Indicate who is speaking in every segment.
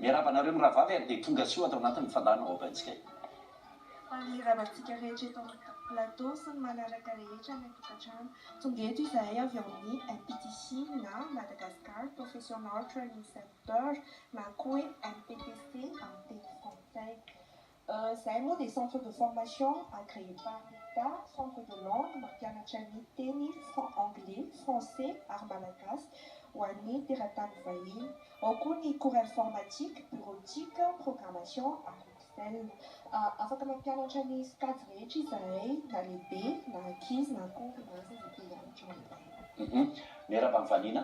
Speaker 1: Miarahaba anareo mirahavavy ary dia tonga soa ato anatin'ny fandaharan'ny vahoakantsika io. Ary
Speaker 2: mirava antsika rehetra eto amin'ny plateau sy ny manaraka rehetra any an-tokantrano. Tonga eto izahay avy ao amin'ny MPTC na Madagascar Professional Training Center na koa hoe MPTC amin'ny teny frantsay. Izahay moa dia centre de formation agréé par l'Etat, centre de langue, mampianatra ny teny anglais, français ary malagasy ho an'ny teratany vahiny. Ao koa ny cours informatique, bureautique, programmation ary excel. Afaka mampianatra ny sokajy rehetra izahay na lehibe na ankizy na koa mahazo izay te hianatra aminay. Miarahaba mivaniana.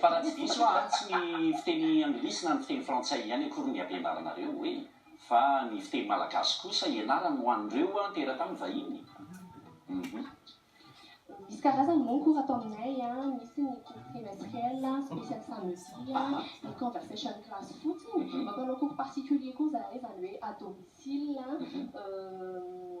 Speaker 1: Fa raha tsy diso aho an, tsy ny fiteny anglisy na ny fiteny frantsay ihany akory ny ampianaranareo hoe, fa ny fiteny malagasy kosa ianarany ho an'ireo teratany vahiny? Uhm.
Speaker 2: Misy karazany moa ny cours atao aminay an, misy ny cours trimestriel, special samedi, ny conversation class fotsiny, mampanao cours particulier koa izahay, izany hoe à domicile, uhm.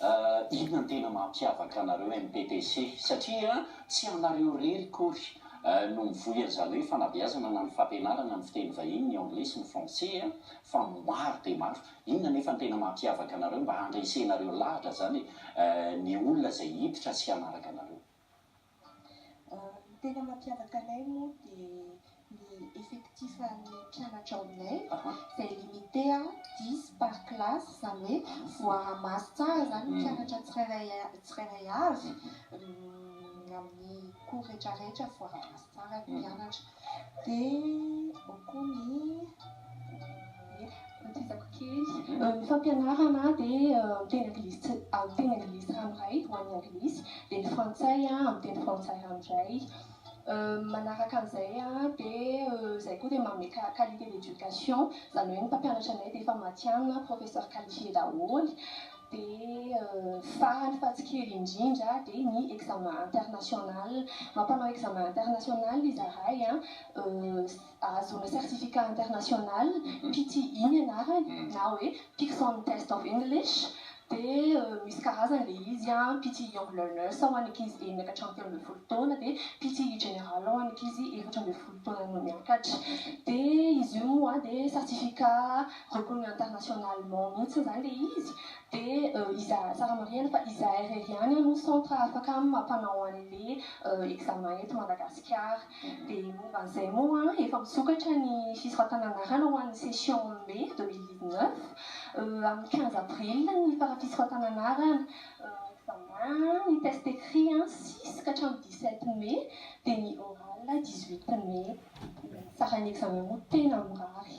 Speaker 1: Ah inona no tena mampiavaka anareo MPTC? Satria tsy ianareo irery akory no mivoy an'izany hoe fanabeazana na ny fampianarana ny fiteny vahiny, ny anglais sy ny français an, fa maro dia maro. Inona anefa no tena mampiavaka anareo mba handresenareo lahatra izany ny olona izay hiditra sy hanaraka anareo? Ny
Speaker 2: tena mampiavaka anay moa dia ny effectif an'ny mpianatra ao aminay izay limite dix par classe, izany hoe voaha maso tsara izany ny mpianatra tsirairay tsirairay avy amin'ny cours rehetra rehetra voaha maso tsara ny mpianatra. Dia ao koa ny ankiezako kely. Ny fampianarana dia amin'ny teny anglisy amin'ny teny anglisy ranoray ho an'ny anglisy, dia ny frantsay amin'ny teny frantsay ranoray. Manaraka an'izay dia izahay koa dia manome qualité d'éducation, izany hoe ny mpampianatra anay dia efa matihanina, professeurs qualifiés daholo. Dia farany fa tsy kely indrindra dia ny examen international. Mampanao examen international izahay an, ahazoana certificat international, PTE ny anarany na hoe Pearson Test of English, dia misy karazany ilay izy an, PTE Young Learners ho an'ny ankizy enina ka hatramin'ny telo ambin'ny folo taona, dia PTE General ho an'ny ankizy efatra ambin'ny folo taona no miakatra. Dia izy io moa dia certificat Tokony internationalement mihitsy izany ilay izy dia iza tsara marihina fa izahay irery ihany aloha centre afaka mampanao anle examen eto Madagasikara. Dia momba an'izay moa efa misokatra ny fisoratana anarana ho an'ny session mai deux mille dix neuf. Amin'ny quinze avril ny fara fisoratana anarana. Ny examen, ny test écrit six ka hatramin'ny dix sept mai dia ny oral dix huit mai. Ny saran'ny examen moa tena mirary.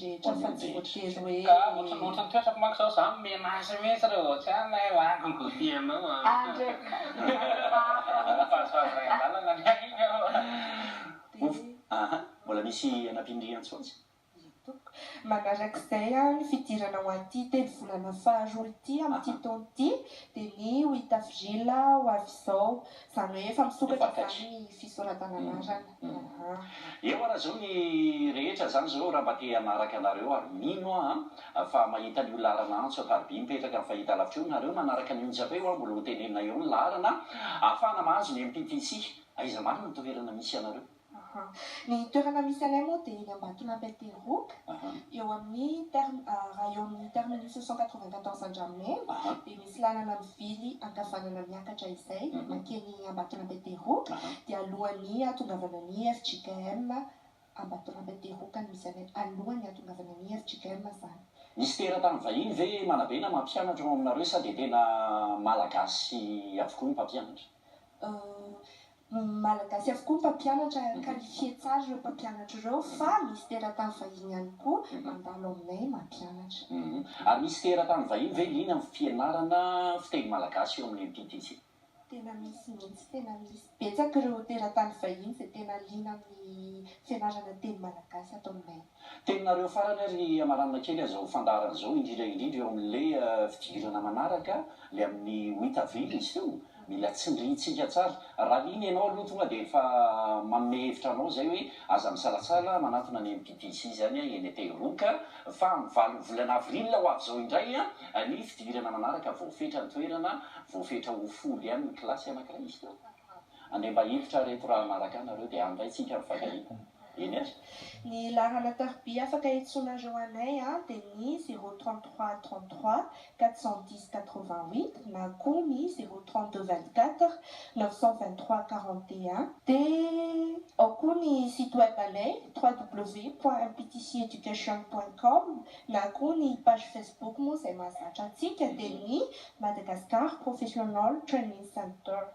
Speaker 3: rehetra
Speaker 4: fa tsy voatery hoe
Speaker 1: Manarak'izay
Speaker 3: ny fidirana ho an'ity telo volana faharoa ity amin'ity taona ity dia ny ho hita vrila ho avy izao Izany hoe efa misokatra
Speaker 1: izany ny fisoratana anarana aa. Eo ara zao ny rehetra zany zao raha mba te hanaraka anareo ary mino aho an fa mahita an'io laharana antso ampariby mipetraka amin'ny fahita lavitra io nareo manaraka ny onjy hafa io an mbola ho tenenina eo ny laharana ahafahana mahazo ny MPTC aiza marina ny toherana misy anareo. Aha. Ny
Speaker 3: toerana misy anay moa dia eny Ambatolampy Aterivoka, eo amin'ny term- raha eo amin'ny terminus cent quatre-vingt-quatorze Andramena, dia misy lalana mivily ankavanana miakatra izay mankeny Ambatolampy Aterivoka, dia alohan'ny hahatongavana ny FJKM Ambatolampy Aterivoka no misy anay, alohan'ny hahatongavana ny FJKM izany. Misy teratany
Speaker 1: vahiny ve Manabe na mampianatra ao aminareo sa dia tena Malagasy avokoa ny mpampianatra? Euh,
Speaker 3: Malagasy avokoa ny mpampianatra ary qualifié tsara ireo mpampianatra ireo fa misy teratany vahiny ihany koa mandalo aminay mampianatra. Ary misy
Speaker 1: teratany vahiny ve liana amin'ny fianarana fiteny malagasy eo amin'ny MTTC? Tena misy
Speaker 3: mihitsy, tena misy betsaka ireo teratany vahiny izay tena liana amin'ny fianarana teny malagasy ato aminay. Teninareo farany
Speaker 1: ary amaranina kely aza ho fandaharana zao indrindra indrindra eo amle fidirana manaraka le aminy huit avril izy teo mila tsindrintsika tsara raha liny enao aloha tonga de efa manome hevitra anao zay hoe aza misalatsala manatona ny MPPC zany a eny Ateriroc fa am valo volana avril ho avy zao indray a ny fidirana manaraka voafetra ny toerana voafetra ho folo ihany ny kilasy anakiray izy teo. Andeha mba hiditra reto raha
Speaker 3: hanaraka ahy nareo dia handray tsika ny fagahina. Eny ary. Ny laharana tarobia afaka iantsoanareo anay an dia ny zéro trente trois trente trois quatre cent dix quatre vingt huit na koa ny zéro trente deux vingt quatre neuf cent vingt trois quarante et un. Dia ao koa ny site web anay www point mptc education point com na koa ny page facebook moa izay mahazatra antsika dia ny Madagascar Professional Training Center.